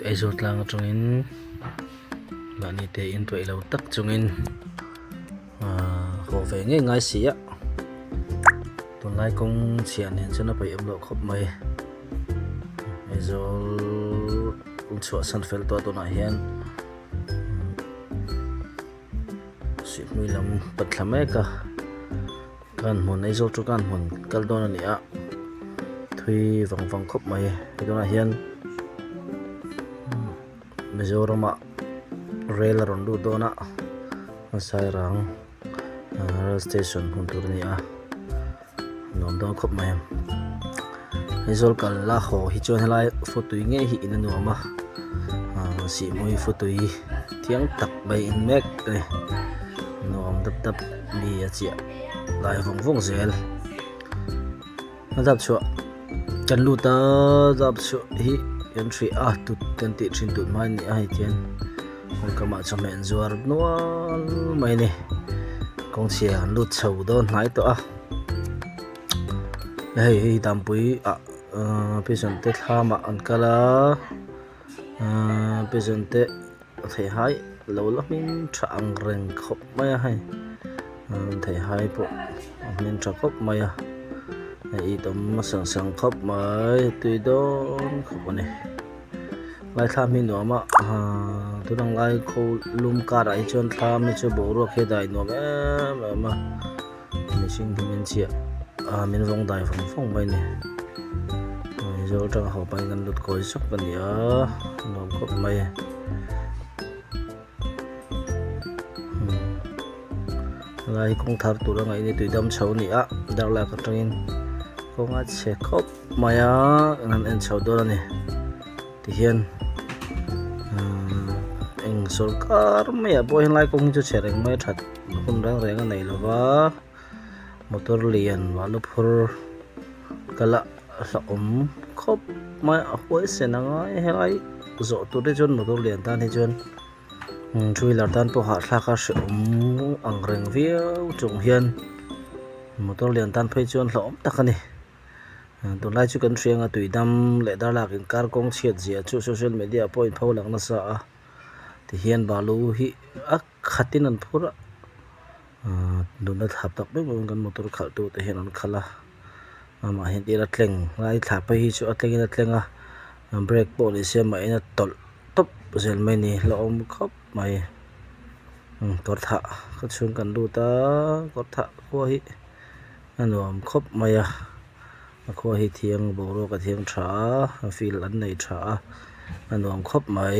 Aizawl tlang atangin mahni te intuaih lo tak chungin haw ve ngei ngai si a, tunlai kawng chhia nen chuan a paih awm loh khawp mai. Aizawl chhuah san fel tawh a tunah hian suihmui lam pat thla mek a. Kan hmun Aizawl chu kan hmun kal dawn a nia thui vang vang khawp mai he tunah hian Mizorama rail a rawn lut dawn a Sairang rail station hmun tur a ni a nuam dawn khawp mai. Aizawl kal la haw hi chuan helai futui ngei hi in a nuam a aaa sihmui futui thiang tak mai in mek a ni nuam dap dap mi a chiah lai vawng vawng zel a zap chhuah kan lut a zap chhuah hi kan hrih a tut kan tih thin tut mai a ni a hei khian kawngkam ah chawhmeh an zuar nual mai a ni kawngchhia an lut chho dawn hnai tawh a. hei hi danpui ah ahh pigeon te thlam ah an kal a ahh pigeon te a theihai lo la hming tha ang reng khawp mai a hei an theihai pawh a hming tha khawp mai a hei hi dawm hmasa sak khawp mai tui dawn khawp a ni lai thla hming nuam a ahh tunang lai kho lum karah hi chuan thla mi chu boruak hi a dai nuam em em a. Mihring tum in chhiah ah min rawng dai fawng fawng mai ni. Mizo atanga ho pahin kan lut kawi sawk a ni a, nuam khawp mai. Helai hi kawng thar tur a ngaih ni tuidam chho a ni a, darlak atangin kawng a chhe khawp mai a, kan han en chho dawn a ni. Tihian eng sawrkar maiah pawh helai kawng hi chu chhe reng mai a that. Lukhum reng reng a nei lo va, motor lian vah na phur ka lah a hla awm khawp mai a huai sen a ngai helai zawh tur te chuan motor lian tan hi chuan two wheeler tan pawh hahthlak a hre awm ang reng viau chung hian motor lian tan phei chuan hlauhawm tak a ni tun lai chu kan hria anga tui dam leh dar lak in kar kawng chhiat zia chu social media ah pawh a in pho lang nasa a tihian balu hi a-- Khatin an phur a, nunna thlap tak ber bawkin kan motor khalhtu te hian an khal a, amah hian tira tleng a, i thlahpui hi chu a tlengin a tleng a, brake pawh ni se mahin a tawlh tawp zel mai ni hlauh a awm khawp mai, kawr thah ka chhung kan lut a, kawr thah khua hi a nuam khawp mai a, a khua hi thiang boruak a thiang tha a, a feel an nei tha a, a nuam khawp mai.